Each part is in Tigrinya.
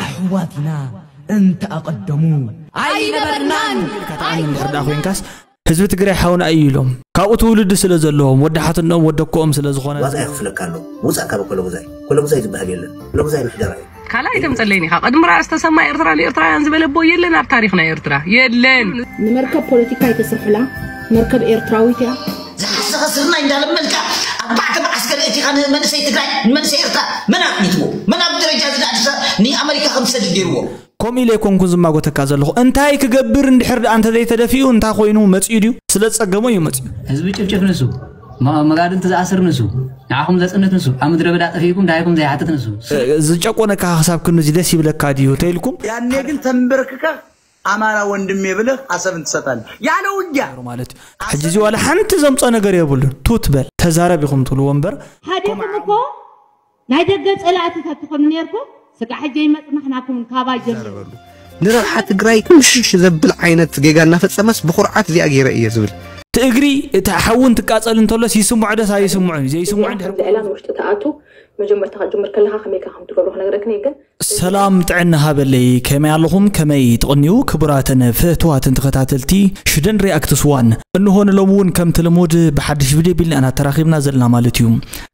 ኣሕዋት ኢና እንተ ኣቐደሙ ኣይነበርናን ከተኣኒ እንድሕር ደኣ ኮይንካስ ህዝቢ ትግራይ ሓውና እዩ ኢሎም ካብኡ ትውልዲ ስለ ዘለዎም ወዲ ሓትነኦም ወዲ ኣኮኦም ስለ ዝኾነ ዋጋ የኽፍለካ ኣሎ ውፃእ ካብ ኮለጉዛይ ኮለጉዛይ ዝበሃል የለን ኮለጉዛይ ምሕደራ እዩ ካልኣይ ተምፀለይን ኢኻ ቅድሚ ራእስ ተሰማ ኤርትራ ንኤርትራውያን ዝበለ ኣቦ የለን ኣብ ታሪኽ ናይ ኤርትራ የለን ንመርከብ ፖለቲካ ኣይተስርሕላ መርከብ ኤርትራዊት እያ ዝሓሰኸ ስርናይ እንዳለመንካ ኣርባዕተ መዓስከር እቲኻ ንመንእሰይ ትግራይ ንመንእሰይ ኤርትራ መን ኣጥኒትዎ መን ኣብ ደረጃ እዚ ኣድሳ ንኣመሪካ ከም ዝሰድድ ገይርዎ ከምኡ ኢለ ኣይኮንኩን ዝማጎተካ ዘለኹ እንታይ ክገብር እንድሕር ደኣ እንተዘይተደፊኡ እንታይ ኮይኑ መፂኡ ድዩ ስለ ዝፀገሞ እዩ መፂኡ ህዝቢ ጭፍጭፍ ንሱ ማ- መጋድልቲ ዝኣስር ንሱ ንዓኹም ዘፅንት ንሱ ኣብ ምድረ በዳ ጠፊእኩም ድሃይኩም ዘይሓትት ንሱ ዝጨቆነካ ክሳብ ክንዚ ደስ ይብለካ ድዩ ተይልኩም ያኔ ግን ተንበርክከህ ኣማራ ወንድሜ ብልህ ኣሰብን ትሰጣለህ ያለ ውጊያ። ነሩ ማለት እዩ ሕጂ እዚ ዋላ ሓንቲ ዘምጾ ነገር የብሉን ቱት በል ተዛረብ ኢኹም ትብልዎ እምበር ሃዲኩም እኮ ናይ ደገ ጸላእቲ ተትኮኑ ኔርኩም ስጋዕ ሕጂ ኣይመጽናሕናኩምን ካባይ ጀሚሩ። ንረብሓ ትግራይ ዕሽሽ ዘብል ዓይነት ጌጋ እናፈፀመስ ብኹርዓት እዚኣ ገይረ እየ ዝብል። እቲ እግሪ እቲ ሓዊ እንትቃፀል እንተሎስ ይስምዖ ዶስ ኣይስምዖን እዩ ዘይስምዖ እንድሕር ምኽንያት ኣብ ዝዕላም ውሽጢ ትኣቱ መጀመርታ ክትጅምር ከለካ ከመይካ ከምትገብሮ ክነግረክን እየ ግን ሰላም ጥዕና ሃበለይ ከመይ ኣለኹም ከመይ ትቕንዩ ክቡራትን ፍህትዋትን ተኸታተልቲ ሽደን ሪኣክትስ ዋን እንሆ ንሎሚ እውን ከምቲ ልሙድ ብሓድሽ ቪድዮ ቢልና ኢና ተራኺብና ዘለና ማለት እዩ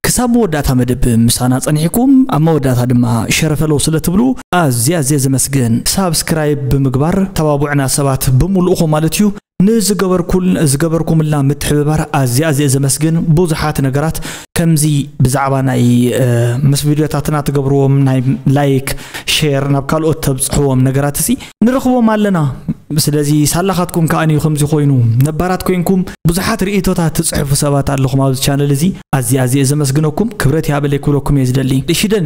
ክሳብ መወዳእታ መደብ ምሳና ጸኒሕኩም ኣብ መወዳእታ ድማ ሸረፈለው ስለ ትብሉ ኣዝየ ኣዝየ ዘመስግን ሳብስክራይብ ብምግባር ተባብዑና ሰባት ብምሉእኹም ማለት እዩ ንዝገበርኩል ዝገበርኩምልና ምትሕብባር ኣዝየ ኣዝየ ዘመስግን ብዙሓት ነገራት ከምዚ ብዛዕባ ናይ ምስ ቪድዮታትና ትገብርዎም ናይ ላይክ ሼር ናብ ካልኦት ተብፅሕዎም ነገራት እሲ ንረኽቦም ኣለና ስለዚ ሳላኻትኩም ከዓ እዩ ከምዚ ኮይኑ ነባራት ኮንኩም ብዙሓት ርእቶታት ትፅሕፉ ሰባት ኣለኹም ኣብዚ ቻነል እዚ ኣዝየ ኣዝየ ዘመስግነኩም ክብረት ይሃበለይ ክብለኩም እየ ዝደሊ ሽደን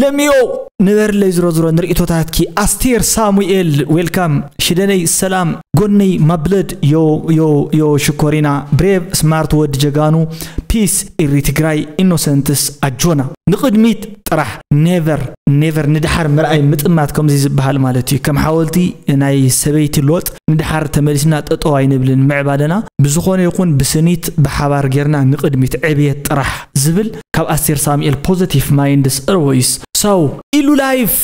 ለሚዮ ንበርለይ ዝሮዝሮ ንርእቶታትኪ ኣስቴር ሳሙኤል ዌልካም ሽደነይ ሰላም ጎነይ ማብለድ ዮ ዮ ዮ ሽኮሪና ብሬቭ ስማርት ወዲ ጀጋኑ ፒስ ኢሪ ትግራይ ኢኖሰንትስ ኣጆና ንቅድሚት ጥራሕ ኔቨር ኔቨር ንድሓር ምርኣይ ምጥማት ከምዚ ዝብሃል ማለት እዩ ከም ሓወልቲ ናይ ሰበይቲ ሎጥ ንድሓር ተመሊስና ጠጠው ኣይንብልን ምዕባለና ብዝኾነ ይኹን ብስኒት ብሓባር ጌርና ንቅድሚት ዕብየት ጥራሕ ዝብል ካብ ኣስቴር ሳሙኤል ፖዘቲቭ ማይንድስ ኦልወይስ ሰው ኢሉ ላይፍ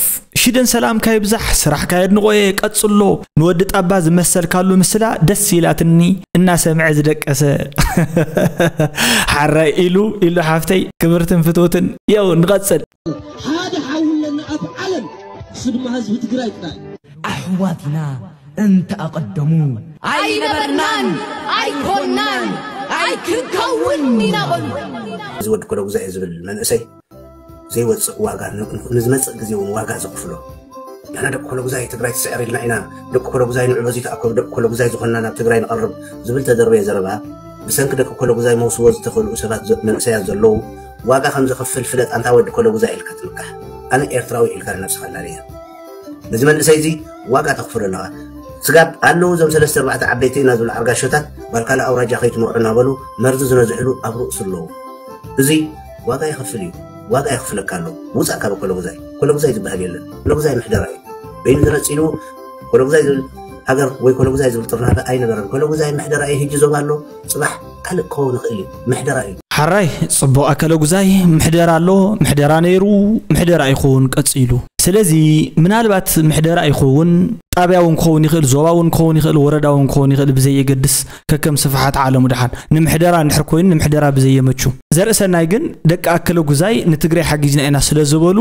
ሽደን ሰላምካ ይብዛሕ ስራሕካ የድንቆየ ቀጽሎ ንወዲ ጣባ ዝመሰልካሉ ምስላ ደስ ኢላትኒ እናሰምዐ ዝደቀሰ ሓራይ ኢሉ ኢሉ ሓፍተይ ክብርትን ፍትውትን የው ንቐጽል ሓደ ሓውለና ኣብ ዓለም ስድማ ህዝቢ ትግራይ ጥራይ ኣሕዋት ኢና እንተ ኣቐደሙ። ኣይነበርናን ኣይኮናን ኣይክንከውን ኢና በሉ። እዚ ወዲ ኮሎጉዛይ ዝብል መንእሰይ ዘይወፅእ ዋጋ ንዝመፅእ ግዜ እውን ዋጋ ዘኽፍሎ ንሕና ደቂ ኮሎጉዛይ ትግራይ ትስዕር ኢልና ኢና ደቂ ኮሎጉዛይ ንዑ በዚ ተኣከቡ ደቂ ኮሎጉዛይ ዝኾንና ናብ ትግራይ ንቐርብ ዝብል ተደርበየ ዘረባ ብሰንኪ ደቂ ኮሎጉዛይ መውስቦ ዝተኸልኡ ሰባት መንእሰያት ዘለዉ ዋጋ ከም ዘኽፍል ፍለጥ ኣንታ ወዲ ኮሎጉዛይ ኢልካ ትምካሕ ኣነ ኤርትራዊ ኢልካ ንነብስኻ ኣላለየ ነዚ መንእሰይ እዚ ዋጋ ተኽፍሎ ኣለኻ ስጋብ ኣለዉ እዞም ሰለስተ ኣርባዕተ ዓበይቲ ኢና ዝብሉ ዓርጋሾታት ጓል ካልእ ኣውራጃ ከይትመርዑ እናበሉ መርዚ ዝነዝሕሉ ኣብ ርእሱ ኣለዉ እዚ ዋጋ ይኸፍል እዩ ዋጋ የኽፍለካ ኣሎ ውፃእ ካብ ኮለጉዛይ ኮለጉዛይ ዝበሃል የለን ኮለጉዛይ ምሕደራ እዩ በይኑ ተነፂሉ ኮለጉዛይ ዝብል ሃገር ወይ ኮለጉዛይ ዝብል ጥርናፈ ኣይነበረን ኮለጉዛይ ምሕደራ እዩ ህጂ ዞባ ኣሎ ጽባሕ ካልእ ክኸውን ይኽእል እዩ ምሕደራ እዩ። ሐራይ ጽቡቅ ኣከለጉዛይ ምሕደራ ኣሎ ምሕደራ ነይሩ ምሕደራ ይኮውን ቀጺሉ ስለዚ ምናልባት ምሕደራ ይኮውን ጣብያ ውን ክኸውን ይኽእል ዞባ ውን ክኸውን ይኽእል ወረዳ ውን ክኸውን ይኽእል ብዘየገድስ ከከም ስፍሓት ዓለሙ ድሓን ንምሕደራ እንድሕር ኮይኑ ንምሕደራ ብዘየመቹ ዘርእሰናይ ግን ደቂ ኣከለጉዛይ ንትግራይ ሓጊዝና ኢና ስለ ዝበሉ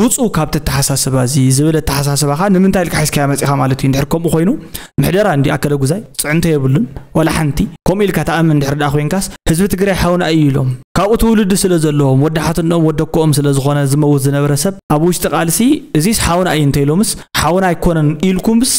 ውጹ ካብቲ ኣተሓሳስባ እዚ ዝብል ኣተሓሳስባኻ ንምንታይ ኢልካ ሒዝካያ መጺኻ ማለት እዩ እንድሕር ከምኡ ኮይኑ ምሕደራ እንድዩ ኣከለጉዛይ ፅዕንቶ የብሉን ዋላ ሓንቲ። ከምኡ ኢልካ ትኣምን እንድሕር ድኣ ኮይንካስ ህዝቢ ትግራይ ሓውና እዩ ኢሎም ካብኡ ትውልዲ ስለ ዘለዎም ወዲ ሓትንኦም ወዲ ኣኮኦም ስለ ዝኾነ ዝመውት ዝነበረ ሰብ ኣብ ውሽጢ ቃልሲ እዚስ ሓውና እዩ እንተኢሎምስ ሓውና ኣይኮነን ኢልኩምስ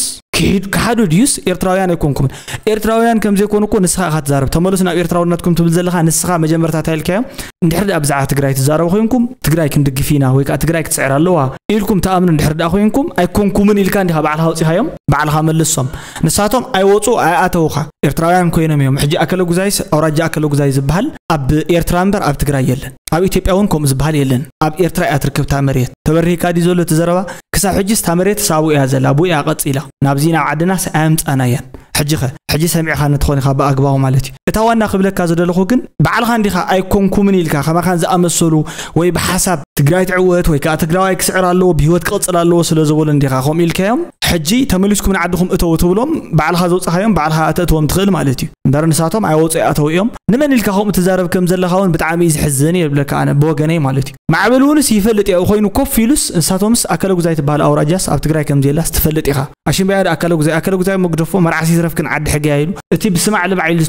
ክሓዱ ድዩስ ኤርትራውያን ኣይኮንኩምን ኤርትራውያን ከምዘይኮኑ እኮ ንስኻ ኢኻ ትዛረብ ተመለሱ ናብ ኤርትራውነትኩም ትብል ዘለኻ ንስኻ መጀመርታ እንታይ ኢልካዮም እንድሕር ደኣ ብዛዕባ ትግራይ ትዛረቡ ኮይንኩም ትግራይ ክንድግፍ ኢና ወይ ከዓ ትግራይ ክትስዕር ኣለዋ ኢልኩም ተኣምኑ እንድሕር ደኣ ኮይንኩም ኣይኮንኩምን ኢልካ እንዲኻ ባዕልኻ ወፂኻዮም ባዕልኻ መልሶም ንሳቶም ኣይወፁ ኣይኣተውኻ ኤርትራውያን ኮይኖም እዮም ሕጂ ኣከለ ጉዛይስ ኣውራጃ ኣከለ ጉዛይ ዝበሃል ኣብ ኤርትራ እምበር ኣብ ትግራይ የለን ኣብ ኢትዮጵያ እውን ከምኡ ዝበሃል የለን ኣብ ኤርትራ እያ ትርከብ እታ መሬት ተበሪህካ ድዩ ዘሎ እቲ ዘረባ ክሳብ ሕጂስ እታ መሬትስ ኣብኡ እያ ዘላ ብኡያ ቀጺላ ናብዚ ናብ ዓድናስ ኣየምጻእናያን ሕጂኸ ሕጂ ሰሚዕኻኒ ትኾን ኢኻ ብኣግባቡ ማለት እዩ እታ ዋና ክብለካ ዝደለኹ ግን ባዕልኻ እንዲኻ ኣይኮንኩምን ኢልካ ከማኻን ዝኣመሰሉ ወይ ብሓሳብ ትግራይ ትዕወት ወይ ከዓ ትግራዋይ ክስዕር ኣለዎ ብሂወት ክቕፅል ኣለዎ ስለ ዝበሉ እንዲኻ ከምኡ ኢልካዮም ሕጂ ተመሊስኩም ንዓድኹም እተው ትብሎም ባዕልኻ ዘውፅኻዮም ባዕልኻ ኣተእትዎም ትኽእል ማለት እዩ እምበር ንሳቶም ኣይወፁ ይኣተው እዮም ንመን ኢልካ ከምኡ ትዛረብ ከም ዘለኻ እውን ብጣዕሚ እዩ ዝሕዝን እየ ዝብለካ ኣነ ብወገነይ ማለት እዩ ማዕበል እውንስ ይፈልጥ ያኡ ኮይኑ ኮፍ ኢሉስ እንሳቶምስ ኣከለጉዛይ ትባሃል ኣውራጃስ ኣብ ትግራይ ከምዘየላስ ትፈልጥ ኢኻ ኣሽንባያ ዳኣ ኣከለጉዛይ ኣከለጉዛይ መግደፎ መርዓስ ይትረፍክን ዓዲ ሕጊ ያዩ ኢሉ እቲ ብስማዕ ልማዕ ኢሉ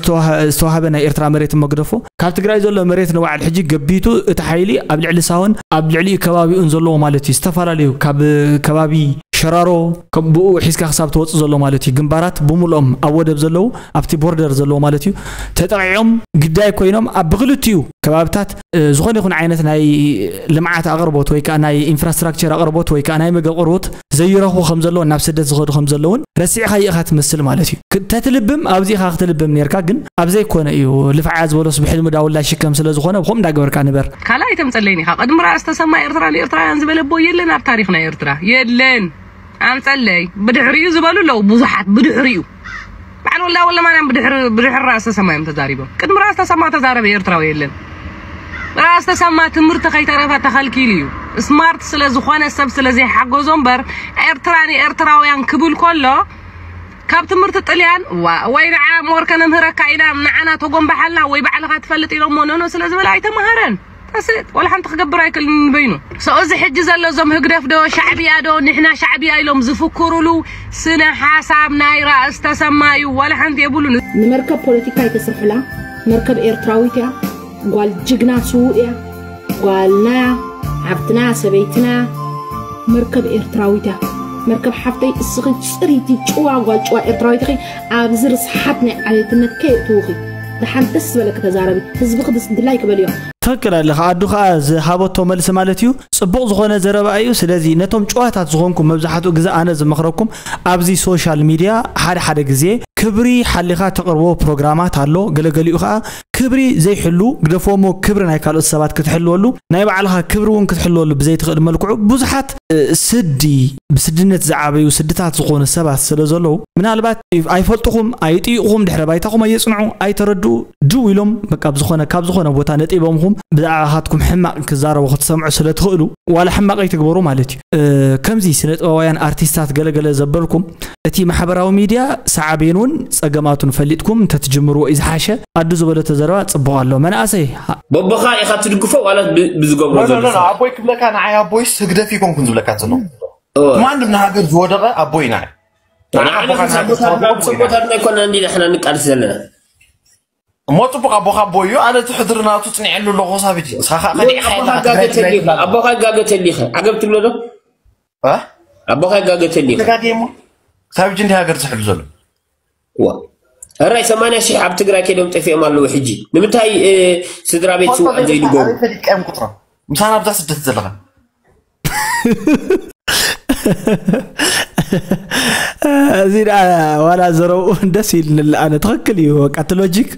ዝተዋሃበ ናይ ኤርትራ መሬትን መግደፎ ካብ ትግራይ ዘሎ መሬት ንባዕል ሕጂ ገቢቱ እቲ ሓይሊ ኣብ ልዕሊ ሳሆን ኣብ ልዕሊኡ ከባቢኡን ዘለዎ ማለት እዩ ዝተፈላለዩ ካብ ከባቢ ሸራሮ ከም ብኡ ሒዝካ ክሳብ ትወጽእ ዘሎ ማለት እዩ ግንባራት ብሙሉኦም ኣብ ወደብ ዘለዉ ኣብቲ ቦርደር ዘለዎ ማለት እዩ ተጠቂዖም ግዳይ ኮይኖም ኣብ ብክልቲኡ ከባብታት ዝኾነ ይኹን ዓይነት ናይ ልምዓት ኣቕርቦት ወይ ከዓ ናይ ኢንፍራስትራክቸር ኣቕርቦት ወይ ከዓ ናይ ምግብ ኣቕርቦት ዘይረኽቡ ከም ዘለውን ናብ ስደት ዝኸዱ ከም ዘለውን ረሲዕኻ ይእኻ ትመስል ማለት እዩ ተትልብም ኣብዚ ኢኻ ክትልብም ነርካ ግን ኣብ ዘይኮነ እዩ ልፍዓ ዝበሎስ ብሕልሚ ዳውላ ሽከም ስለ ዝኾነ ብከም እንዳገበርካ ንበር ካልእ ኣይተምፀለይን ኢኻ ቅድሚ ራእስ ተሰማ ኤርትራ ንኤርትራውያን ዝበለ ኣቦ የለን ኣብ ታሪኽና ኤርትራ የለን ኣምፀለይ ብድሕሪኡ ዝበሉ ኣለዉ ብዙሓት ብድሕሪኡ በዓል ወልዳ ወልደማርያም ብድሕሪ ብድሕሪ ራእሲ ተሰማ እዮም ተዛሪቦም። ቅድሚ ራእሲ ተሰማ ተዛረበ ኤርትራዊ የለን። ራእሲ ተሰማ ትምህርቲ ከይተረፈ ተኸልኪሉ እዩ። ስማርት ስለ ዝኾነ ሰብ ስለ ዘይሓገዞ እምበር ኤርትራ ንኤርትራውያን ክብል ከሎ ካብ ትምህርቲ ጥልያን ዋ- ወይ ንዓ ሞርከ ነምህረካ ኢላ ንዓና ተጎንባሓልና ወይ ባዕልኻ ትፈልጥ ኢሎሞ ኖኖ ስለ ዝበለ ኣይተምሃረን። That's it ዋላ ሓንቲ ክገብር ኣይክእልን ንበይኑ so እዚ ሕጂ ዘሎ እዞም ህግደፍ ዶ ሻዕብያ ዶ ንሕና ሻዕብያ ኢሎም ዝፍክሩሉ ስነ ሓሳብ ናይ ራእስ ተሰማ እዩ ዋላ ሓንቲ የብሉን ንመርከብ ፖለቲካ ኣይተስርሑላ መርከብ ኤርትራዊት እያ ጓል ጅግና ስውእ እያ ጓልና ሓብትና ሰበይትና መርከብ ኤርትራዊት እያ መርከብ ሓፍተይ እስኺ ፅሪቲ ጭዋ ጓል ጭዋ ኤርትራዊት ኢኺ ኣብዚ ርስሓት ናይ ዓሌትነት ከየእትውኺ ደሓን ደስ ዝበለኪ ተዛረቢ ህዝብኺ ድስንትላይ ክበልዮ። ትክክል ኣለኻ ኣዱ ከዓ ዝሃበቶ መልሲ ማለት እዩ ፅቡቅ ዝኾነ ዘረባ እዩ ስለዚ ነቶም ጭዋታት ዝኾንኩም መብዛሕትኡ ግዜ ኣነ ዝመኽረኩም ኣብዚ ሶሻል ሚድያ ሓደ ሓደ ግዜ ክብሪ ሓሊኻ ተቅርቦ ፕሮግራማት ኣሎ ገለገሊኡ ከዓ ክብሪ ዘይሕሉ ግደፎሞ ክብሪ ናይ ካልኦት ሰባት ክትሕልወሉ ናይ ባዕልኻ ክብሪ እውን ክትሕልወሉ ብዘይትኽእል መልክዑ ብዙሓት ስዲ ብስድነት ዝዓበዩ ስድታት ዝኾኑ ሰባት ስለ ዘለዉ ምናልባት ኣይፈልጥኹም ኣይጥይቕኹም ድሕረ ባይታኹም ኣየፅንዑ ኣይተረድኡ ድው ኢሎም በቃ ብዝኾነ ካብ ዝኾነ ቦታ ነጢቦምኹም ብዛዕባኻትኩም ሕማቕ ክዛረቡ ክትሰምዑ ስለ ትኽእሉ ዋላ ሕማቕ ኣይትግበሩ ማለት እዩ ከምዚ ስነ ጥበባውያን ኣርቲስታት ገለገለ ዘበልኩም እቲ ማሕበራዊ ሚድያ ሳዓቤኑን ጸገማቱን ፈሊጥኩም እንተትጅምርዎ እዩ ዝሓሸ። ኣዱ ዝበለቶ ዘረባ ጽቡቅ ኣሎ መናእሰይ። በቦኻ ኢኻ ትድግፎ ዋላስ ብዝገብሮ ዘሎ ስራሕ? ኖኖኖ ኣቦይ ክብለካ ንዓይ ኣቦይስ ህግደፍ ኣይኮንኩን ዝብለካ ዘለኹ ማንም ንሃገር ዝወደቐ ኣቦይ ናይ ንዓና ንዓና ክንሳ ኣቦታትና ኣቦይ ናይ ኣቦታትና ኣይኮናን ዲና ሕና ንቃልስ ዘለና እሞ ጽቡቅ ኣቦካ ኣቦ እዩ ኣነ እቲ ሕድሪ ናቱ ጽኒዐሉ ኣለኩ ክሳብ ሕጂ ንስካ ከኣ ከኒዕካ የለካ ትግራይ ትግራይ ትብላ ኣለካ ኣቦካ ይጋገ ተሊካ ዓገብ ትብሎ ዶ እ ኣቦካ ይጋገ ተሊካ ተጋግየ እሞ ክሳብ ሕጂ እንዲ ሃገር ዝሕሉ ዘሎ ዋ እራይ ሰማንያ ሽሕ ኣብ ትግራይ ከይዶም ጠፊኦም ኣለዉ ሕጂ ንምንታይ እ፣ ስድራ ቤት ፈልጦ ስውኣት ዘይንገሩ ዘይፈልጥ ኣበይ ፈሊጥካ እዮም ቁፅሮም ምሳና ኣብዛ ስደት ዘለካ እዚ ደኣ ዋላ ዘረብኡ ደስ ኢልኒ ኣነ ትኽክል እዩ በቃ እቲ ሎጂክ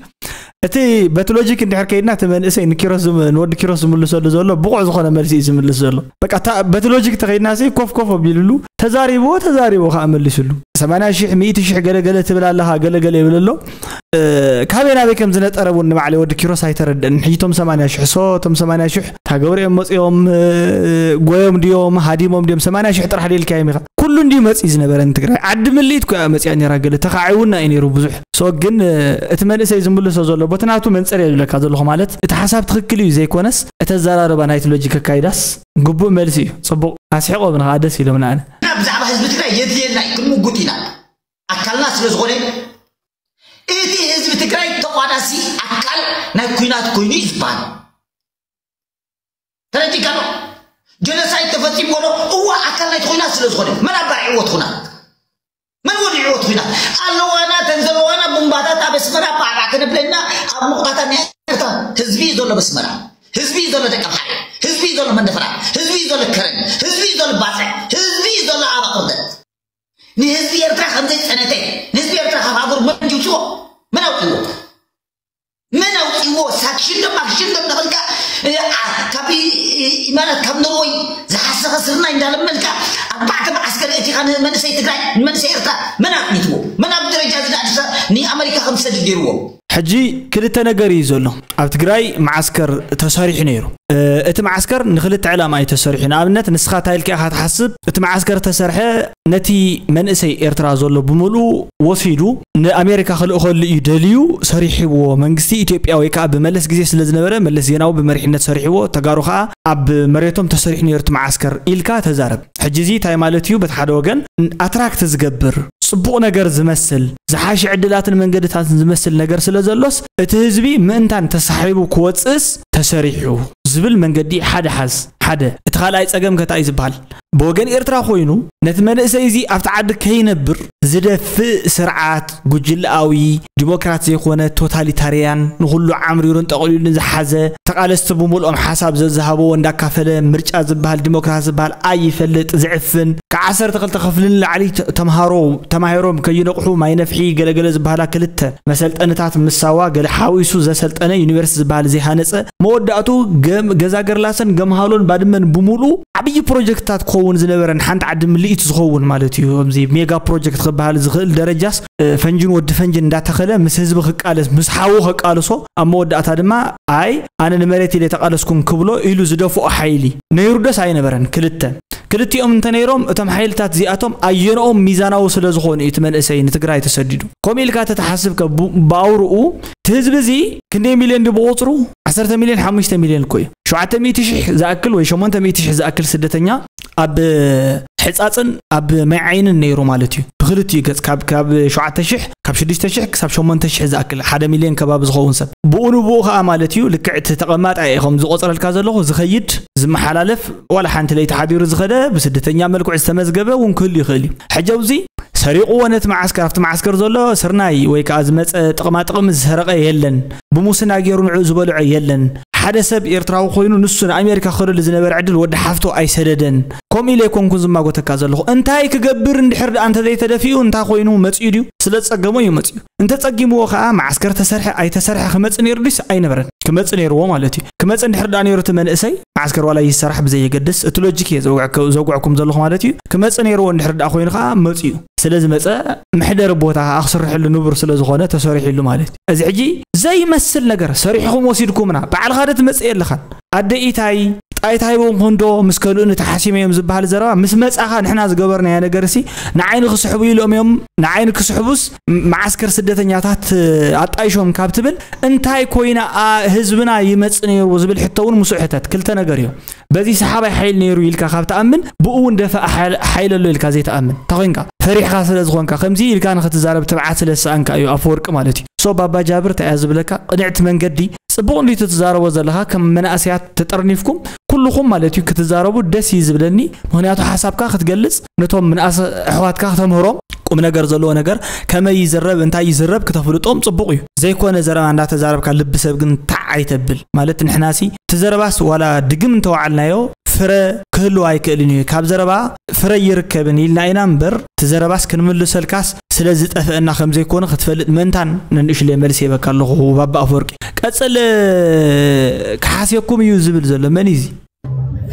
እቲ በቲ ሎጂክ እንድሕር ከይድና እቲ መንእሰይ ንኪሮስ ዝም- ንወዲ ኪሮስ ዝምልሰሉ ዘሎ ብቑዕ ዝኾነ መልሲ እዩ ዝምልስ ዘሎ በቃ እታ- በቲ ሎጂክ ተኸይድና ሲ ኮፍ ኮፍ ኣቢልሉ ተዛሪብዎ ተዛሪቦ ከዓ መሊስሉ 80 ሽሕ 100 ሽሕ ገለገለ ትብል ኣለኻ ገለገለ ይብል ኣሎ ካበይ ናበይ ከም ዝነጠረ እውን ንባዕለይ ወዲ ኪሮስ ኣይተረድእን ሕጂ ቶም ሰማንያ ሽሕ ሶ ቶም ሰማንያ ሽሕ ታገብሪኦም መፅኦም ጎዮም ድዮም ሃዲሞም ድዮም ሰማንያ ሽሕ ጥራሕ ደልካዮም ኢኻ ኩሉ እንዲ መፅኢ ዝነበረ ንትግራይ ዓዲ ምልኢት ኮያ መፅያ ነራ ገለ ተካዒ እውን እዩ ነይሩ ብዙሕ ሶ ግን እቲ መንእሰይ ዝምልሶ ዘሎ ቦቲ ናቱ መንፅር እየ ዝብለካ ዘለኹ ማለት እቲ ሓሳብ ትክክል እዩ ዘይኮነስ እቲ ኣዘራርባ ናይቲ ሎጂክ ኣካይዳስ ግቡእ መልሲ እዩ ፅቡቅ ኣስሒቆምና ከዓ ደስ ኢሎምና ኣነ ብዛዕባ ህዝቢ ትግራይ የድልየና እዩ ክንምጉት ኢና ኣካልና ስለ ዝኾነ እቲ ህዝቢ ትግራይ ተቋዳሲ ኣካል ናይ ኩናት ኮይኑ እዩ ዝበሃል ተረዲካ ዶ ጀኖሳይድ ተፈፂሞ ዶ እዋ ኣካል ናይቲ ኩናት ስለ ዝኾነ መን ኣባሪዕዎ እቲ ኩናት መን ወዲዕዎ እቲ ኩናት ኣለዋና ተን ዘለዋና ቡምባታት ኣብ ኣስመራ ባዕባዕ ከነብለና ኣብ ሙቕታታ ናይ ኤርትራ ህዝቢ እዩ ዘሎ በስመራ ህዝቢ እዩ ዘሎ ደቂ ኣምሓረ ህዝቢ እዩ ዘሎ መንደፈራ ህዝቢ እዩ ዘሎ ከረን ህዝቢ እዩ ዘሎ ባፅዕ ህዝቢ እዩ ዘሎ ኣባቕርደት ንህዝቢ ኤርትራ ከም ዘይጨነተ ንህዝቢ ኤርትራ ካብ ሃገሩ መን ጅውፅዎ መን ኣውፅዎ መን ኣውፅዎ ሳክሽን ዶ ማክሽን ዶ እናበልካ ካብ ማለት ካብ ኖርወይ ዝሓሰኸ ስርናይ እንዳለመንካ ኣርባዕተ መዓስከር እቲኻ ንመንእሰይ ትግራይ ንመንእሰይ ኤርትራ መን ኣጥኒትዎ መን ኣብ ደረጃ እዚ ንኣዲስ ንኣመሪካ ከም ዝሰድድ ገይርዎ ሕጂ ክልተ ነገር እዩ ዘሎ ኣብ ትግራይ መዓስከር ተሰሪሑ ነይሩ እቲ መዓስከር ንክልተ ዕላማ እዩ ተሰሪሑ ንኣብነት ንስኻ እንታይ ኢልካ ኢኻ ትሓስብ እቲ መዓስከር ተሰርሐ ነቲ መንእሰይ ኤርትራ ዘሎ ብምልኡ ወሲዱ ንኣሜሪካ ክልእኸሉ እዩ ደልዩ ሰሪሕዎ መንግስቲ ኢትዮጵያ ወይ ከዓ ብመለስ ግዜ ስለ ዝነበረ መለስ ዜናዊ ብመሪሕነት ሰሪሕዎ ተጋሩ ከዓ ኣብ መሬቶም ተሰሪሑ ነይሩ እቲ መዓስከር ኢልካ ተዛረብ ሕጂ እዚ ታይ ማለት እዩ በቲ ሓደ ወገን ኣትራክት ዝገብር ጽቡቕ ነገር ዝመስል ዝሓሸ ዕድላትን መንገድታትን ዝመስል ነገር ስለ ዘሎስ እቲ ህዝቢ ምእንታን ተሳሒቡ ክወጽእስ ተሰሪሑ ዝብል መንገዲ ሓደ ሓዝ ሓደ እቲ ካልኣይ ጸገም ከ ታይ እዩ ዝበሃል ብወገን ኤርትራ ኮይኑ ነቲ መንእሰይ እዚ ኣብቲ ዓዲ ከይነብር ዝደፍእ ስርዓት ጉጅለኣዊ፣ ዲሞክራት ዘይኮነ ቶታሊታርያን፣ ንኹሉ ዓምሪሩን ጠቕሊሉን ዝሓዘ፣ ተቓለስቲ ብምልኦም ሓሳብ ዘዝሃበዎ እንዳካፈለ፣ ምርጫ ዝብሃል ዲሞክራሲ ዝብሃል ኣይፈልጥ ዝዕፍን፣ ካብ ዓሰርተ ክልተ ክፍሊ ንላዕሊ ተምሃሮ ተማሂሮም ከይነቕሑ ማይ ነፍሒ ገለ ገለ ዝብሃላ ክልተ መሰልጠንታት ምስ ሳዋ ገለ ሓዊሱ ዘሰልጠነ ዩኒቨርስቲ ዝብሃል ዘይሃነጸ፣ መወዳእትኡ ገዛገርላሰን ገምሃሎን ባድመን ብምሉኡ ዓብዪ ፕሮጀክትታት ክኸውን ዝነበረ ንሓንቲ ዓዲ ምልኢት ዝኸውን ማለት እዩ። ከምዚ ሜጋ ፕሮጀክት ክበሃል ዝኽእል ደረጃስ ፈንጅን ወዲ ፈንጅን እንዳተኸለ ምስ ህዝቢ ክቃለስ ምስ ሓዉ ከቃልሶ ኣብ መወዳእታ ድማ ኣይ ኣነ ንመሬት ኢለ ተቃለስኩም ክብሎ ኢሉ ዝደፍኦ ሓይሊ ነይሩደስ ኣይነበረን ክልተ ክልቲኦም እንተነይሮም እቶም ሓይልታት እዚኣቶም ኣየንኦም ሚዛናዊ ስለ ዝኾኑ እዩ እቲ መንእሰይ ንትግራይ ተሰዲዱ ከምኡ ኢልካ ተተሓስብከ ብኣውርኡ እቲ ህዝቢ እዚ ክንደይ ሚልዮን ድዩ ብቑፅሩ ዓሰርተ ሚልዮን ሓሙሽተ ሚልዮን እኮ እዩ። ሸውዓተ ሚእቲ ሽሕ ዝኣክል ወይ ሸሞንተ ሚእቲ ሽሕ ዝኣክል ስደተኛ ኣብ ሕጻጽን ኣብ ማይ ዓይንን ነይሩ ማለት እዩ። ብክልቲኡ ገጽ ካብ ካብ ሸውዓተ ሽሕ ካብ ሽዱሽተ ሽሕ ክሳብ ሸሞንተ ሽሕ ዝኣክል ሓደ ሚልዮን ከባቢ ዝኸውን ሰብ ብኡ ንብኡ ከኣ ማለት እዩ ልክዕ እቲ ተቐማጣ እየ ከም ዝቆጽረልካ ዘለኹ ዝኸይድ ዝመሓላለፍ ዋላ ሓንቲ ለይቲ ሓዲሩ ዝኸደ ብስደተኛ መልክዑ ዝተመዝገበ እውን ክህሉ ይኽእል እዩ። ሕጂ ኣብዚ ሰሪቑዎ ነቲ መዓስከር ኣብቲ መዓስከር ዘሎ ስርናይ ወይ ከኣ ዝመጸ ጥቕማ ጥቕሚ ዝሰረቐ የለን ብሙስና ጌሩ ንዕኡ ዝበልዖ የለን። ሓደ ሰብ ኤርትራዊ ኮይኑ ንሱ ንኣሜሪካ ክኸደሉ ዝነበረ ዕድል ወዲ ሓፍቶ ኣይሰደደን። ከምኡ ኢለ ኣይኮንኩን ዝማጎተካ ዘለኹ። እንታይ ክገብር እንድሕር ደኣ እንተ ዘይተደፊኡ እንታይ ኮይኑ መጺኡ ድዩ? ስለ ዝጸገሞ እዩ መጺኡ። እንተ ጸጊምዎ ከኣ መዓስከር ተሰርሐ ኣይተሰርሐ ክመጽእ ኔሩ ድዩስ ኣይነበረን? ክመጽእ ኔርዎ ማለት እዩ። ክመጽእ እንድሕር ደኣ ኔሩ እቲ መንእሰይ፣ መዓስከር ዋላ ይሰራሕ ብዘየገድስ፣ እቲ ሎጂክ እየ ዘውግዐኩም ዘለኹ ማለት እዩ፣ ክመጽእ ኔርዎ እንድሕር ደኣ ኮይኑ ከኣ መጺኡ። ስለ ዝመጸ መሕደሪ ቦታ ከኣ ክስርሐሉ ንቡር ስለ ዝኾነ ተሰሪሑሉ ማለት እዩ። እዚ ሕጂ ዘይመስል ነገር ሰሪሕኹም ወሲድኩምና ባዕልኻ ዶ ትመጽእ የለኻን ኣደ ኢታይ ጣይ ታሂቦምኹም ዶ ምስ ከልኡኒ ተሓሲመ እዮም ዝበሃል ዘረባ ምስ መጻኻ ንሕና ዝገበርናዮ ነገርሲ ንዓይ ንክስሕቡ ኢሎም እዮም ንዓይ ንክስሕቡስ መዓስከር ስደተኛታት ኣጣይሾም ካብ ትብል እንታይ ኮይና ህዝብና ይመጽእ ነይሩ ዝብል ሕቶ እውን ምስኡ ሕተት ክልተ ነገር እዩ በዚ ሰሓባይ ሓይሊ ነይሩ ኢልካ ካብ ትኣምን ብኡ እውን ደፋኢ ሓይሊ ኣሎ ኢልካ ዘይትኣምን እንታይ ኮንካ ፈሪሕካ ስለ ዝኾንካ ከምዚ ኢልካ ንኽትዛረብ ትብዓት ስለ ዝሰኣንካ እዩ ኣፈወርቂ ማለት እዩ ሶ ባባ ጃብር እንታይ እያ ዝብለካ ቅንዕቲ መንገዲ ጽቡቕ እንዲ ትዛረቦ ዘለኻ ከም መናእሰያት ተጠርኒፍኩም ኩልኹም ማለት እዩ ክትዛረቡ ደስ እዩ ዝብለኒ ምክንያቱ ሓሳብካ ክትገልጽ ነቶም ምንኣሰ ኣሕዋትካ ክተምህሮም ቁም ነገር ዘለዎ ነገር ከመይ ይዝረብ እንታይ ይዝረብ ክተፍልጦም ጽቡቕ እዩ ዘይኮነ ዘረባ እንዳተዛረብካ ልቢ ሰብ ግን ታዕ ኣይተብል ማለት ንሕናሲ እቲ ዘረባስ ዋላ ድግም እንተወዓልናዮ ፍረ ክህልዎ ኣይክእልን እዩ ካብ ዘረባ ፍረ ኣይርከብን ኢልና ኢና እምበር እቲ ዘረባስ ክንምልሰልካስ ስለ ዝጠፈእና ከም ዘይኮነ ክትፈልጥ መንታን ነንእሽለይ መልሲ ሂበካ ኣለኹ ባባ ኣፈወርቂ ቀጽል ክሓስየኩም እዩ ዝብል ዘሎ መን እዩ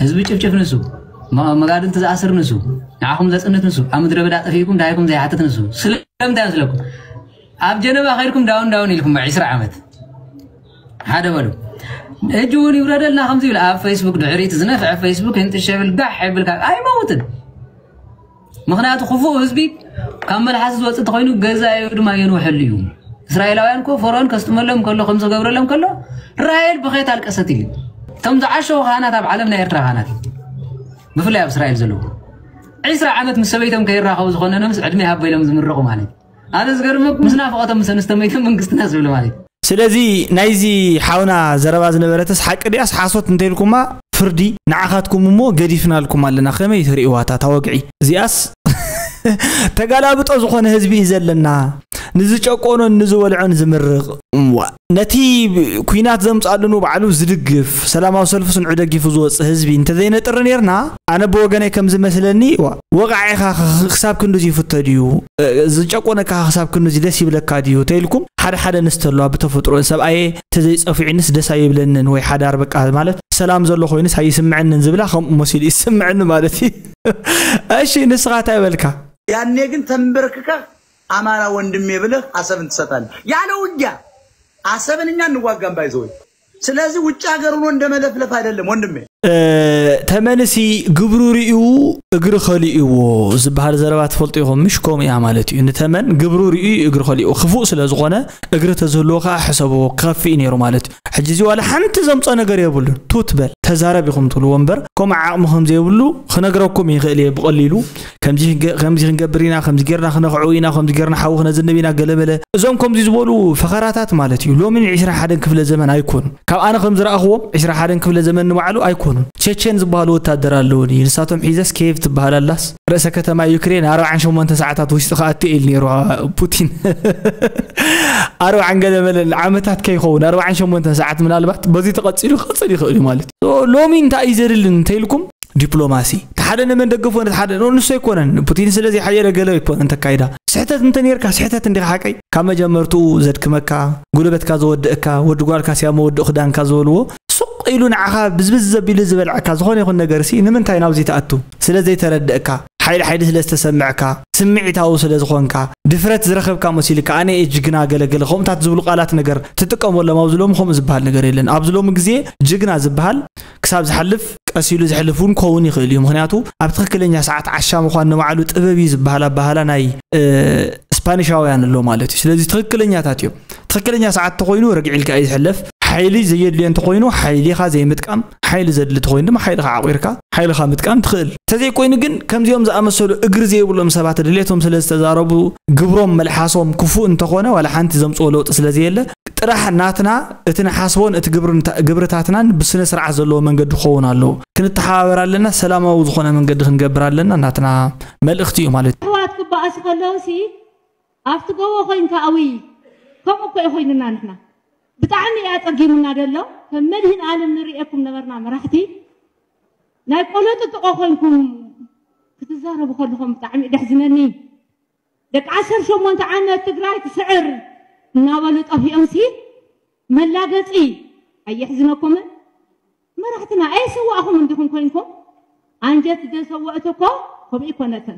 ህዝቢ ጭፍጭፍ ንሱ መጋድልቲ ዝኣስር ንሱ ንዓኹም ዘጽንት ንሱ ኣብ ምድረ በዳ ጠፊእኩም ዳይኩም ዘይሓትት ንሱ ስለምንታይ መስለኩም ኣብ ጀነባ ከይድኩም ዳውን ዳውን ኢልኩም ዕስራ ዓመት ሓደ በሉ ሕጂ እውን ይውረደልና ከምዚ ይብል ኣብ ፌስቡክ ድሕሪት ዝነፍዐ ፌስቡክ ይንጥሸብል ጋሕ ይብልካ ኣይመውትን ምክንያቱ ክፉእ ህዝቢ ካብ መልሓስ ዝወፅእ ተኮይኑ ገዛዩ ድማ የንውሐሉ እዩ እስራኤላውያን ኮ ፈርኦን ከስጥመሎም ከሎ ከም ዝገብረሎም ከሎ ራሄል ብኸት ኣልቀሰት ኢሉ እቶም ዝዓሸው ካህናት ኣብ ዓለም ናይ ኤርትራ ካህናት እዩ ብፍላይ ኣብ እስራኤል ዘለዎ ዕስራ ዓመት ምስ ሰበይቶም ከይራኸቡ ዝኾነኖምስ ዕድሜ ሃበሎም ዝምረቑ ማለት እዩ ኣነ ዝገርመኩም ምስ ናፍቆቶም ምስ ኣንስቶ መይቶም መንግስትና ዝብሉ ማለት ስለዚ ናይዚ ሓውና ዘረባ ዝነበረትስ ሓቂ ድያስ ሓሶት እንተኢልኩማ ፍርዲ ንዓኻትኩም እሞ ገዲፍናልኩም ኣለና ከመይ ትርእይዋ እታ ወግዒ እዚኣስ ተጋላብጦ ዝኾነ ህዝቢ እዩ ዘለና ንዝጨቆኖን ንዝበልዖን ዝምርቕ እምዋ ነቲ ኩናት ዘምጽኣሉ ንባዕሉ ዝድግፍ ሰላማዊ ሰልፊ ስንዑ ደጊፉ ዝወጽእ ህዝቢ እንተዘይነጥሪ ኔርና ኣነ ብወገነይ ከም ዝመስለኒ ወቓዒኻ ክሳብ ክንድዚ ይፍቶ ድዩ ዝጨቆነካ ክሳብ ክንድዚ ደስ ይብለካ ድዩ ተይልኩም ሓደ ሓደ ንስቲ ኣለዋ ብተፈጥሮ ሰብኣየ ተዘይጸፊዑንስ ደስ ኣይብለንን ወይ ሓዳር በቃ ማለት ሰላም ዘሎ ኮይንስ ኣይስምዐንን ዝብላ ከምኡ መሲሉ ይስምዐኒ ማለት እዩ እሺ ንስኻ እንታይ በልካ ያኔ ግን ተንበርክከህ አማራ ወንድሜ ብለህ አሰብን ትሰጣለህ ያለ ውጊያ አሰብን እኛ እንዋጋም ባይዘወይ ስለዚህ ውጭ ሀገር ሆኖ እንደ መለፍለፍ አይደለም ወንድሜ። ተመልሲ ግብሩ ርእዩ እግሪ ከሊእዎ ዝበሃል ዘረባ ትፈልጡ ኢኹም ምሽ ከምኡ እያ ማለት እዩ ንተመን ግብሩ ርእዩ እግሪ ከሊኡ ክፉእ ስለ ዝኾነ እግሪ ተዝህልዎ ከዓ ሕሰብዎ ክኸፍእ ነይሩ ማለት እዩ ሕጂ እዚ ዋላ ሓንቲ ዘምፆ ነገር የብሉን ቱት በል ተዛረብ ኢኹም ትብልዎ እምበር ከምኡ ዓቕሚ ከም ዘይብሉ ክነግረኩም ይኽእል እየ ብቐሊሉ ከምዚ ክንገ- ከምዚ ክንገብር ኢና ከምዚ ጌርና ክነኽዑ ኢና ከምዚ ጌርና ሓዊ ክነዝንብ ኢና ገለመለ እዞም ከምዚ ዝበሉ ፈኸራታት ማለት እዩ ሎሚ ን 21 ክፍለ ዘመን ኣይኮኑን ካብ ኣነ ከም ዝረኣኽዎም 21 ክፍለ ዘመን ንባዕሉ ኣይኮኑን ቸቸን ዝበሃሉ ወታደር ኣለውኒ ንሳቶም ሒዘስ ኬቭ ትበሃል ኣላስ ርእሰ ከተማ ዩክሬን ኣርባዓን ሸሞንተ ሰዓታት ውሽጢ ክኣቱ ኢል ነይሩ ፑቲን ኣርባዓን ገለ መለን ዓመታት ከይኸውን ኣርባዓን ሸሞንተን ሰዓት ምናልባት በዚ ተቐፂሉ ክቕፅል ይኽእል እዩ ማለት እዩ ሎሚ እንታይ እዩ ዘድሊ እንተይልኩም ዲፕሎማሲ እቲ ሓደ ንመን ደገፎ ነቲ ሓደ ንሱ ኣይኮነን ፑቲን ስለ ዘይሓየለ ገለ ኣይኮነን ተካይዳ ስሕተት እንተ ነርካ ስሕተት እንዲኻ ሓቀይ ካብ መጀመርትኡ ዘድክመካ ጉልበትካ ዘወድእካ ወዲ ጓልካ ስያ መወድእ ክዳንካ ዝበልዎ ሱቕ ኢሉ ንዓኻ ብዝብዝ ዘቢሉ ዝበልዐካ ዝኾነ ይኹን ነገርሲ ንምንታይ ናብዚ ትኣቱ ስለ ዘይተረድእካ ሓይሊ ሓይሊ ስለ ዝተሰምዕካ፣ ስምዒታዊ ስለ ዝኾንካ፣ ድፍረት ዝረኸብካ መሲሉካ ኣነ እየ ጅግና ገለ ገለ ከምኡታት ዝብሉ ቃላት ነገር ትጥቀመሎም ኣብዚ ሎሚ ከምኡ ዝብሃል ነገር የለን ኣብዚ ሎሚ ግዜ ጅግና ዝብሃል ክሳብ ዝሓልፍ ቀስ ኢሉ ዝሕልፍ እውን ክኸውን ይኽእል እዩ ምኽንያቱ ኣብ ትኽክለኛ ሰዓት ዓሻ ምዃን ንባዕሉ ጥበብ እዩ ዝብሃል ኣባህላ ናይ ስፓኒሻውያን ኣሎ ማለት እዩ ስለዚ ትኽክለኛታት እዮም ትኽክለኛ ሰዓት ተኾይኑ ረግዒ ኢልካ እዩ ዝሕለፍ ሓይሊ ዘየድልዮ እንተኾይኑ ሓይሊኻ ዘይምጥቃም ሓይሊ ዘድሊ ተኾይኑ ድማ ሓይልኻ ዓቝርካ ሓይልኻ ምጥቃም ትኽእል። ተዘይኮይኑ ግን ከምዚኦም ዝኣመሰሉ እግሪ ዘይብሎም ሰባት ድሌቶም ስለ ዝተዛረቡ ግብሮም መልሓሶም ክፉእ እንተኾነ ዋላ ሓንቲ ዘምጽኦ ለውጢ ስለ ዘየለ ጥራሕ ናትና እቲ ንሓስቦን እቲ ግብርታትናን ብስነ ስርዓት ዘለዎ መንገዲ ክኸውን ኣለዎ። ክንተሓባበር ኣለና፣ ሰላማዊ ዝኾነ መንገዲ ክንገብር ኣለና ናትና መልእኽቲ እዩ ማለት እዩ። ኣሕዋት ክበኣሱ ከለውሲ ኣብቲ ጎቦ ኮይንካ ኣውይ ከምኡ እኮ እዩ ኮይንና ንሕና ብጣዕሚ እዩ ኣጸጊሙና ደሎ ከም መድህን ኣለም ንርእየኩም ነበርና መራሕቲ ናይ ቆሎ ጥጥቆ ኮይንኩም ክትዛረቡ ከለኹም ብጣዕሚ እዩ ደሕዝነኒ ደቂ ዓሰርተ ሸሞንተ ዓመት ትግራይ ትስዕር እናበሉ ጠፊኦምሲ መላገጺ ኣየሕዝነኩምን መራሕትና ኣይሰዋእኹም እንዲኹም ኮይንኩም ኣንጀት ደሰወእት እኮ ከምኡ ይኮነትን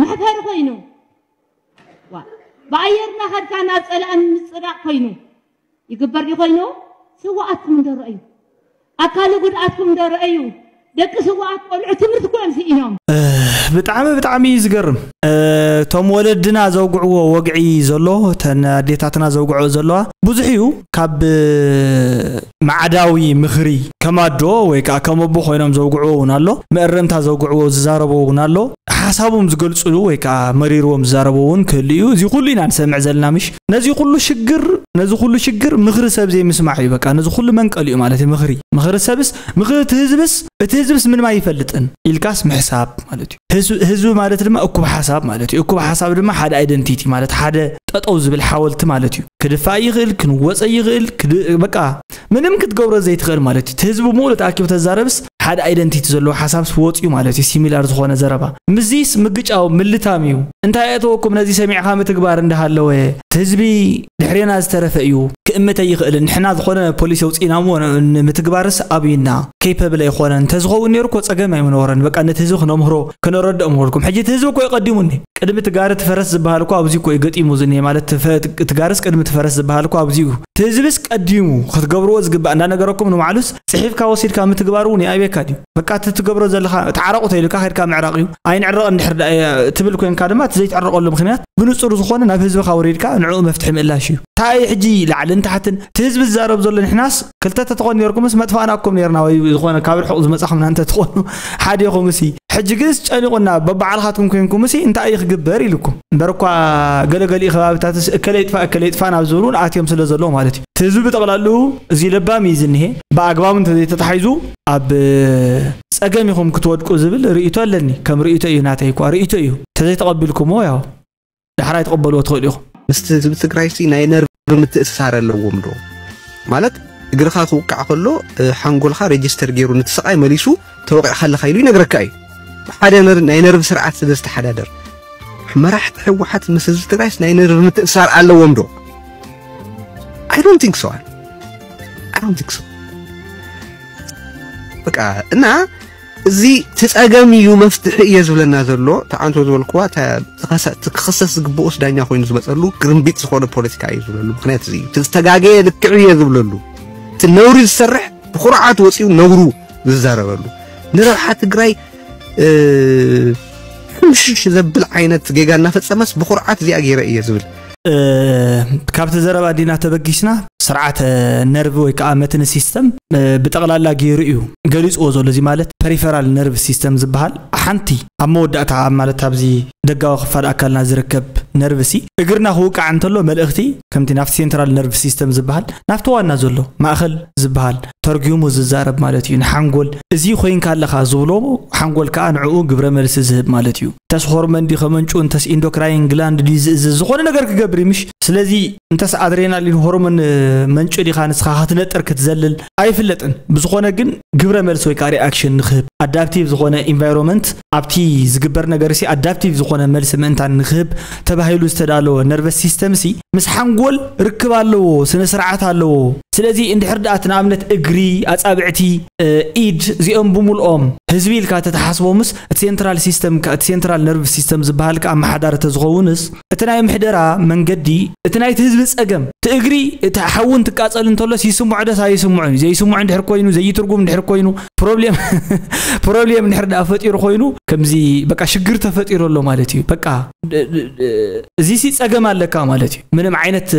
መሕፈሪ ኮይኑ ዋ ብኣየር እናኸድካ ናብ ፀላእን ምፅዳቕ ኮይኑ ይግበር ድዩ ኮይኑ ስዋኣትኩም እንዶ ረኣዩ ኣካሊ ጉድኣትኩም እንዶ ረኣዩ ደቂ ስዋኣት ቆልዑ ትምህርቲ ኮዮም ስኢኖም ብጣዕሚ ብጣዕሚ እዩ ዝገርም እቶም ወለድና ዘውግዕዎ ወግዒ ዘሎ እተን ኣዴታትና ዘውግዕኦ ዘለዋ ብዙሕ እዩ ካብ ማዕዳዊ ምኽሪ ከም ኣዶ ወይ ከኣ ከም ኣቦ ኮይኖም ዘውግዕዎ ውን ኣሎ፣ መእረምታ ዘውግዕዎ ዝዛረብዎ ውን ኣሎ፣ ሓሳቦም ዝገልጽሉ ወይ ከኣ መሪርዎም ዝዛረብዎ ውን ክህሉ እዩ፣ እዚ ኩሉ ኢና ንሰምዕ ዘለና ምሽ፣ ነዚ ኩሉ ሽግር ነዚ ኩሉ ሽግር ምኽሪ ሰብ ዘይምስማዕ እዩ በቃ ነዚ ኩሉ መንቀሊኡ ማለት እዩ ምኽሪ፣ ምኽሪ ሰብስ ምኽሪ እቲ ህዝብስ እቲ ህዝብስ ምንም ኣይፈልጥን ኢልካስ ምሕሳብ ማለት እዩ፣ ህዝብ ህዝቢ ማለት ድማ እኩብ ሓሳብ ማለት እዩ፣ እኩብ ሓሳብ ድማ ሓደ ኣይደንቲቲ ማለት ሓደ ጠጠው ዝብል ሓወልቲ ማለት እዩ፣ ክድፋእ ይኽእል ክንወጸ ይኽእል በቃ ምንም ክትገብሮ ዘይትኽእል ማለት እዩ። እቲ ህዝቢ ብምሉእ ተኣኪቡ ተዛረብስ ሓደ ኣይደንቲቲ ዘለዎ ሓሳብስ ወጽዩ ማለት እዩ ሲሚላር ዝኾነ ዘረባ። ምስዚስ ምግጫው ምልታም እዩ። እንታይ ኣእተወኩም ነዚ ሰሚዕኻ ምትግባር እንዳሃለወ እቲ ህዝቢ ድሕሬና ዝተረፈ እዩ ክእምት ኣይኽእልን ንሕና ዝኾነ ፖሊሲ ኣውጺእና እሞ ንምትግባርስ ኣብዩና ኬፐብል ኣይኾነን እንተዝኸውን ኔሩ እኮ ጸገም ኣይምነበሮን በቃ ነቲ ህዝቢ ክነምህሮ ክነረድኦ ምበልኩም ሕጂ እቲ ህዝቢ እኮ እዩ ቀዲሙኒ ቅድሚ እቲ ጋሪ እቲ ፈረስ ዝበሃል እኮ ኣብዚ እኮ እዩ ገጢሙ ዝኒሀ ማለት እቲ ጋርስ ቅድሚ እቲ ፈረስ ዝበሃል እኮ ኣብዚ እዩ ትህዝብስ ቀዲሙ ክትገብርዎ ዝግባእ እንዳነገረኩም ንባዕሉስ ፅሒፍካ ወሲድካ ምትግባር እውን ይኣብየካ ድዩ በቃ እቲ ትገብሮ ዘለካ ተዓረቁ ተይሉካ ከይድካ ምዕራቅ እዩ ኣይንዕረቅን እንድሕር ድኣ ትብል ኮይንካ ድማ እቲ ዘይትዕረቀሉ ምክንያት ብንፁር ዝኮነ ናብ ህዝብካ ወሪድካ ንዕኡ መፍትሒ ምእላሽ እዩ። ታይ እዩ ሕጂ ላዕልን ታሕትን እቲ ህዝቢ ዝዛረብ ዘሎ ንሕናስ ክልተ ተትኾኑ ኔርኩምስ መጥፋእናኩም ኔርና ወይ ዝኾነ ካብ ርሑቕ ዝመጻኹምና እንተትኾኑ ሓዲኹምሲ ሕጂ ግንስ ጨኒቑና በባዕልኻትኩም ኮንኩምሲ እንታይ እዩ ክግበር ኢሉኩም እምበር እኳ ገለ ገሊኡ ከባቢታትስ እከለ ይጥፋእ እከለ ይጥፋእ ናብ ዝብል እውን ኣትዮም ስለ ዘለዉ ማለት እዩ እቲ ህዝቢ ብጠቕላልኡ እዚ ለባም እዩ ዝኒሀ ብኣግባቡ እንተዘይተታሒዙ ኣብ ጸገም ኢኹም ክትወድቁ ዝብል ርእይቶ ኣለኒ ከም ርእይቶ እዩ ናተይ እኳ ርእይቶ እዩ እንተዘይተቐቢልኩሞ ያው ዳሕራይ ትቕበልዎ ትኽእሉ ኢኹም። ምስቲ ህዝቢ ትግራይሲ ናይ ነርቭ ምትእስሳር ኣለዎም ዶ ማለት እግርኻ ክውቃዕ ከሎ ሓንጎልካ ሬጅስተር ገይሩ ነቲ ስቓይ መሊሱ ተወቂዕካ ኣለካ ኢሉ ይነግረካ እዩ ሓደ ናይ ነርቭ ስርዓት ስለ ዝተሓዳደር መራሕቲ ሕወሓት ምስ ህዝቢ ትግራይስ ናይ ነርቭ ምትእስሳር ኣለዎም ዶ ኣይ ዶንት ቲንክ ሶ ኣይ ዶንት ቲንክ ሶ በቃ እና እዚ እቲ ጸገም እዩ መፍትሒ እየ ዝብለና ዘሎ ተዓንቶ ዝበልክዋ ክኽሰስ ዝግብኦስ ዳኛ ኮይኑ ዝመጸሉ ግርምቢጥ ዝኾነ ፖለቲካ እዩ ዝብለሉ ምክንያት እዚ እዩ እቲ ዝተጋገየ ልክዕ እየ ዝብለሉ እቲ ነውሪ ዝሰርሕ ብኩርዓት ወጺኡ ነውሩ ዝዛረበሉ ንረብሓ ትግራይ ሕምሽሽ ዘብል ዓይነት ጌጋ እናፈጸመስ ብኩርዓት እዚኣ ገይረ እየ ዝብል ካብቲ ዘረባ ዲና ተበጊስና ስርዓተ ነርቭ ወይ ከዓ መትኒ ሲስተም ብጠቕላላ ገይሩ እዩ ገሊፅዎ ዘሎ እዚ ማለት ፐሪፈራል ነርቭ ሲስተም ዝበሃል ሓንቲ ኣብ መወዳእታ ማለት ኣብዚ ደጋዊ ክፋል ኣካልና ዝርከብ ነርቭ ሲ እግርና ክውቃዕ እንተሎ መልእኽቲ ከምቲ ናብቲ ሴንትራል ነርቭ ሲስተም ዝበሃል ናብቲ ዋና ዘሎ ማእኸል ዝበሃል ተርጊሙ ዝዛረብ ማለት እዩ ንሓንጎል እዚ ኮይንካ ኣለኻ ዝብሎ ሓንጎል ከዓ ንዕኡ ግብረ መልሲ ዝህብ ማለት እዩ እንተስ ሆርመን ድዩ ከመንጩ እንተስ ኢንዶክራይን ግላንድ ድዩ ዝእዝዝ ዝኾነ ነገር ክገብር እዩ ምሽ ስለዚ እንተስ ኣድሬናሊን ሆርሞን መንጩ ዲኻ ንስኻ ክትነጥር ክትዘልል ኣይፍለጥን ብዝኾነ ግን ግብረ መልሲ ወይ ከዓ ሪኣክሽን ንክህብ ኣዳፕቲቭ ዝኾነ ኢንቫይሮንመንት ኣብቲ ዝግበር ነገር ሲ ኣዳፕቲቭ ዝኾነ መልሲ ምእንታን ንክህብ ተባሂሉ ዝተዳለወ ነርቨስ ሲስተም ሲ ምስ ሓንጎል ርክብ ኣለዎ ስነ ስርዓት ኣለዎ ስለዚ እንድሕር ድኣ እቲ ንኣብነት እግሪ ኣፃብዕቲ ኢድ እዚኦም ብምልኦም ህዝቢ ኢልካ ተተሓስቦምስ እቲ ሴንትራል ሲስተም እቲ ሴንትራል ነርቭ ሲስተም ዝበሃል ከ ኣመሓዳሪ ተዝኸውንስ እቲ ናይ ምሕደራ መንገዲ እቲ ናይቲ ህዝቢ ጸገም እቲ እግሪ እቲ ሓዊ እንትቃጸል እንተሎስ ይስምዖ ዶስ ኣይስምዖን እዩ ዘይስምዖ እንድሕር ኮይኑ ዘይትርጉም እንድሕር ኮይኑ ፕሮብሌም ፕሮብሌም እንድሕር ደኣ ፈጢሩ ኮይኑ ከምዚ በቃ ሽግር ተፈጢሩ ኣሎ ማለት እዩ በቃ እዚ ሲ ጸገም ኣለካ ማለት እዩ ምንም ዓይነት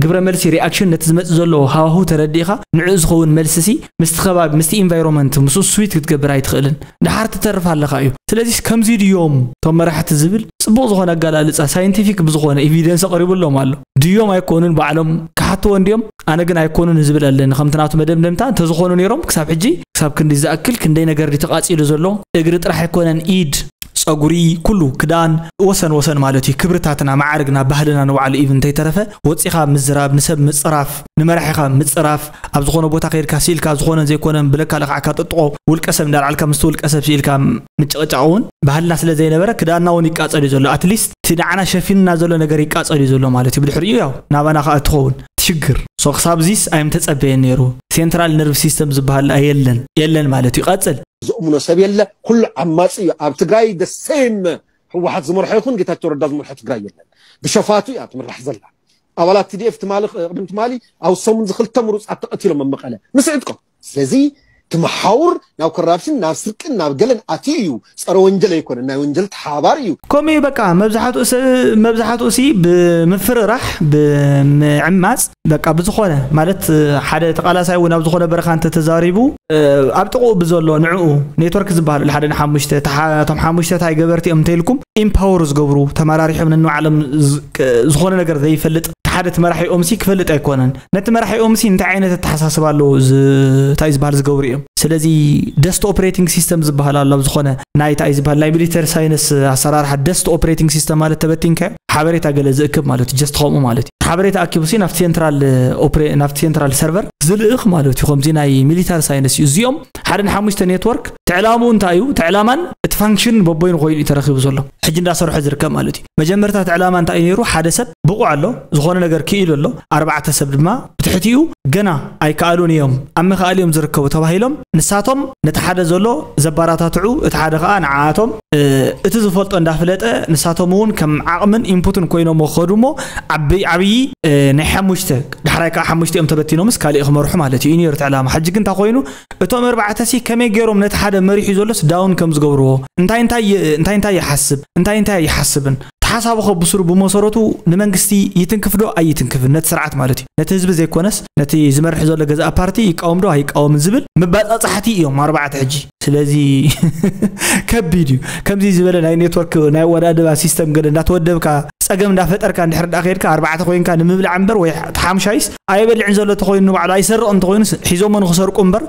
ግብረ መልሲ ሪኣክሽን ነቲ ዝመጽእ ዘሎ ሃዋሁ ተረዲእኻ ንዕኡ ዝኸውን መልሲ ሲ ምስቲ ከባቢ ምስቲ ኢንቫይሮመንት ምስ ስዊት ክትገብር ኣይትኽእልን ድሓር ትተርፍ ኣለኻ እዩ ስለዚ ከምዚ ድዮም እቶም መራሕቲ ዝብል ጽቡቕ ዝኾነ ኣጋላልጻ ሳይንቲፊክ ብዝኾነ ኢቪደንስ ኣቕሪብሎም ኣሎ ድዮም ኣይኮኑን ባዕሎም ክሓትዎ እንድዮም ኣነ ግን ኣይኮኑን ዝብል ኣለኒ ከምቲ ናቱ መደምደምታ እንተዝኾኑ ነይሮም ክሳብ ሕጂ ክሳብ ክንዲ ዝኣክል ክንደይ ነገር ድዩ ተቓጺሉ ዘሎ እግሪ ጥራሕ ኣይኮነን ኢድ ጸጉሪ ኩሉ ክዳን ወሰን ወሰን ማለት እዩ ክብርታትና መዓርግና ባህልና ንባዕሉ ኢቭን እንተይተረፈ ወጺኻ ምዝራብ ንሰብ ምጽራፍ ንመራሒኻ ምጽራፍ፣ ኣብ ዝኾነ ቦታ ከይድካ ስኢልካ ዝኾነን ዘይኮነን ብለካ ለኽዓካ ጥጥቖ፣ ውልቀ ሰብ እንዳልዓልካ ምስቲ ውልቀ ሰብ ስኢልካ ምጭቕጫቕ እውን ባህልና ስለ ዘይነበረ ክዳንና እውን ይቃጸል እዩ ዘሎ at least እቲ ንዓና ሸፊኑና ዘሎ ነገር ይቃጸል እዩ ዘሎ ማለት እዩ ብድሕሪኡ ያው ናባና ከኣ እትኸውን ትሽግር so ክሳብዚስ ኣይምተጸበየን ነይሩ ሴንትራል ነርቭ ሲስተም ዝብሃል ደኣ የለን የለን ማለት እዩ ቀጽል። ዝእምኖ ሰብ የለ ኩሉ ዓማጺ እዩ ኣብ ትግራይ the same ህወሓት ዝመርሖ ይኹን ጌታቸው ረዳ ዝመርሖ ትግራይ የለን ብሸፋቱ እያ ትምራሕ ዘላ ኣባላት ቲዲኤፍ ትማሊ ቅድም ትማሊ ኣብ ሰሙንዚ ክልተ ምሩፃት ተቐቲሎም ኣብ መቐለ ምስ ዕጥቆም ስለዚ ትመሓውር ናብ ኮራፕሽን ናብ ስርቅን ናብ ገለን ኣትዩ እዩ ፀረ ወንጀል ኣይኮነን ናይ ወንጀል ተሓባባሪ እዩ ከምኡ እዩ በቃ መብዛሕትኡ ሰብ መብዛሕትኡ ሲ ብምፍርራሕ ብምዕማፅ በቃ ብዝኾነ ማለት ሓደ ተቃላሳይ እውን ኣብ ዝኾነ በረኻ እንተተዛሪቡ ኣብ ጥቕኡ ብዘሎ ንዕኡ ኔትወርክ ዝበሃል ኣሎ ሓደ ንሓሙሽተ እቶም ሓሙሽተ ታይ ገበርቲ እዮም እንተይልኩም ኢምፓወር ዝገብሩ ተመራሪሖም ነንባዕሎም ዝኾነ ነገር ዘይፈልጥ እቲ ሓደ እቲ መራሒኦምሲ ክፈልጥ ኣይኮነን ነቲ መራሒኦምሲ እንታይ ዓይነት ኣተሓሳስባ ኣለዎ እንታይ ዝበሃል ዝገብሩ እዮም ስለዚ ደስት ኦፕሬቲንግ ሲስተም ዝበሃል ኣሎ ኣብ ዝኾነ ናይ እንታይ ዝበሃል ናይ ሚሊተሪ ሳይንስ ኣሰራርሓ ደስት ኦፕሬቲንግ ሲስተም ማለት ተበቲንካዮ ሓበሬታ ገለ ዝእክብ ማለት ጀስት ከምኡ ማለት እዩ ሓበሬታ ኣኪቡ ሲ ናብቲ ሴንትራል ኦፕሬ ናብቲ ሴንትራል ሰርቨር ዝልእኽ ማለት እዩ ከምዚ ናይ ሚሊታሪ ሳይንስ እዩ እዚኦም ሓደ ንሓሙሽተ ኔትወርክ ትዕላምኡ እንታይ እዩ ትዕላማን እቲ ፋንክሽንን በቦይኑ ኮይኑ እዩ ተረኪቡ ዘሎ ሕጂ እንዳሰርሖ ዝርከብ ማለት እዩ መጀመርታ እቲ ዕላማ እንታይ እዩ ነይሩ? ሓደ ሰብ ብቑዕ ኣሎ፣ ዝኾነ ነገር ክኢሉ ኣሎ፣ ኣርባዕተ ሰብ ድማ ብትሕቲኡ ገና ኣይከኣሉን እዮም፣ ኣብ ምክኣል እዮም ዝርከቡ ተባሂሎም፣ ንሳቶም ነቲ ሓደ ዘሎ ዘበራታትዑ፣ እቲ ሓደ ከኣ ንዓኣቶም እቲ ዝፈልጦ እንዳፍለጠ ንሳቶም እውን ከም ዓቕምን ኢንፑትን ኮይኖምዎ ክኸዱ እሞ ዓብይ ዓብይ ናይ ሓሙሽተ ዳሕራይ ከኣ ሓሙሽቲኦም ተበቲኖምስ ካሊእ ክመርሑ ማለት እዩ እዩ ነይሩ እቲ ዕላማ፣ ሕጂ ግን እንታይ ኮይኑ? እቶም ኣርባዕተሲ ከመይ ገይሮም ነቲ ሓደ መሪሑ ዘሎስ ዳውን ከም ዝገብርዎ፣ እንታይ እንታይ እንታይ እንታይ ይሓስብ፣ እንታይ እንታይ ኣይሓስብን፣ እቲ ሓሳቡኸ ብስሩ ብመሰረቱ ንመንግስቲ ይትንክፍዶ ኣይትንክፍን፣ ነቲ ስርዓት ማለት እዩ፣ ነቲ ህዝቢ ዘይኮነስ ነቲ ዝመርሕ ዘሎ ገዛኢ ፓርቲ ይቃወምዶ ኣይቃወምን ዝብል መባጻጻሕቲ እዮም ኣርባዕተ ሕጂ። ስለዚ ከቢድ እዩ። ከምዚ ዝበለ ናይ ኔትወርክ ናይ ኣወዳድባ ሲስተም ገለ እንዳተወደብካ ጸገም እንዳፈጠርካ እንድሕር ደኣ ከይድካ ኣርባዕተ ኮይንካ ንምብላዕ እምበር ወይ እቲ ሓምሻይስ ኣይበልዕን ዘሎ እንተኾይኑ ንባዕሉ ኣይሰርቕ እንተኾይኑ ሒዞሞ ንክሰርቁ እምበር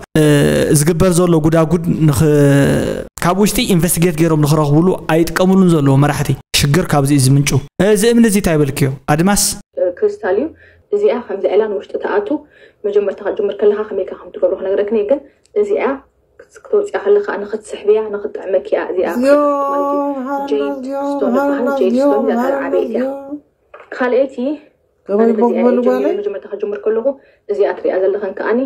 ዝግበር ዘሎ ጉዳጉድ ካብ ውሽጢ ኢንቨስቲጌት ገይሮም ንክረኽብሉ ኣይጥቀምሉን ዘለዎ መራሕቲ ሽግር ካብዚ እዩ ዝምንጩ እዚ እምኒ እዚ እንታይ በልክዮ ኣድማስ ክሪስታል እዩ እዚኣ ከምዚ ዕላ ንውሽጢ ተኣቱ መጀመርታ ክትጅምር ከለካ ከመይካ ከም ትገብሮ ክነግረክኒ ግን እዚኣ ክትወፅያ ከለካ ንክትስሕብያ ንክትጥዕመኪ እያ እዚኣ ጀይድ ስቶን ዝበሃል ጀይድ ስቶን እያ ካልኣይቲ ከመይ እሞ ክበሉ ጓለ መጀመርታ ክጅምር ከለኹ እዚኣ ትሪኣ ዘለኸን ከዓኒ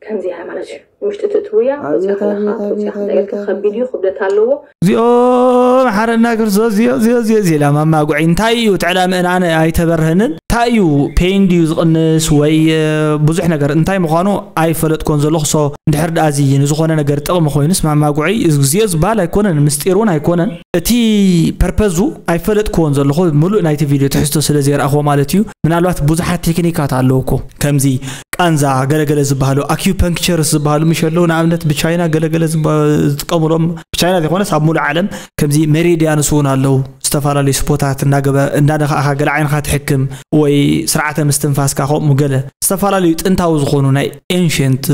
ከምዚ እያ ማለት እዩ ውሽጢ ትእትውያ ወፅያ ከለካ ወፅያ ክንዳየልካ ከቢድ እዩ ክብደት ኣለዎ እዚኦ መሓረና ክርስቶስ እዚኦ እዚኦ እዚኦ እዚኦ ኢላ ማማ ጉዒ እንታይ እዩ እቲ ዕላምእን ኣነ ኣይተበርህንን እንታይ እዩ ፔን ድዩ ዝቕንስ ወይ ብዙሕ ነገር እንታይ ምዃኑ ኣይፈለጥኮን ዘለኹ ሶ እንድሕር ድኣ እዚ ንዝኾነ ነገር ጥቕሚ ኮይኑስ ማማ ጉዒ እዚኦ ዝብሃል ኣይኮነን ምስጢር እውን ኣይኮነን እቲ ፐርፐዙ ኣይፈለጥክዎን ዘለኹ ምሉእ ናይቲ ቪድዮ ትሕዝቶ ስለ ዘይረኣኽዎ ማለት እዩ ምናልባት ብዙሓት ቴክኒካት ኣለዉ እኮ ከምዚ ቃንዛ ገለገለ ዝበሃሉ ኣኪፐንክቸርስ ዝበሃሉ ምሽ ኣለዉ ንኣብነት ብቻይና ገለገለ ዝጥቀምሎም ብቻይና ዘይኮነስ ኣብ ሙሉእ ዓለም ከምዚ ሜሪድያንስ እውን ኣለዉ ዝተፈላለዩ ስፖታት እናገበ እናደኻእኻ ገለ ዓይንኻ ትሕክም ወይ ስርዓተ ምስትንፋስካ ከምኡ ገለ ዝተፈላለዩ ጥንታዊ ዝኾኑ ናይ ኤንሽንት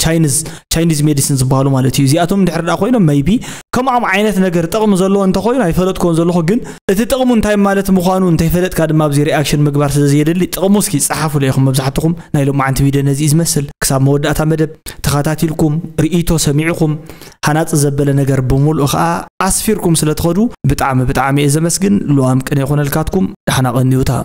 ቻይኒዝ ቻይኒዝ ሜዲሲን ዝበሃሉ ማለት እዩ እዚኣቶም ድሕር ዳ ኮይኖም መይቢ ከምኦም ዓይነት ነገር ጥቕሚ ዘለዎ እንተኮይኑ ኣይፈለጥኮን ዘለኹ ግን እቲ ጥቕሙ እንታይ ማለት ምዃኑ እንተይፈለጥካ ድማ ኣብዚ ሪኣክሽን ምግባር ስለ ዘየድሊ ጥቕሙ እስኪ ፀሓፉ ለይኹም መብዛሕትኹም ናይ ሎማዓንቲ ቪድዮ ነዚ እዩ ዝመስል ክሳብ መወዳእታ መደብ ተኸታቲልኩም ርእይቶ ሰሚዕኹም ሃናፂ ዘበለ ነገር ብምሉእ ከዓ ኣስፊርኩም ስለ ትኸዱ ብጣዕሚ ብጣዕሚ እየ ዘመስግን ልዋም ቅን የኾነልካትኩም ዳሕና ቐንዩታ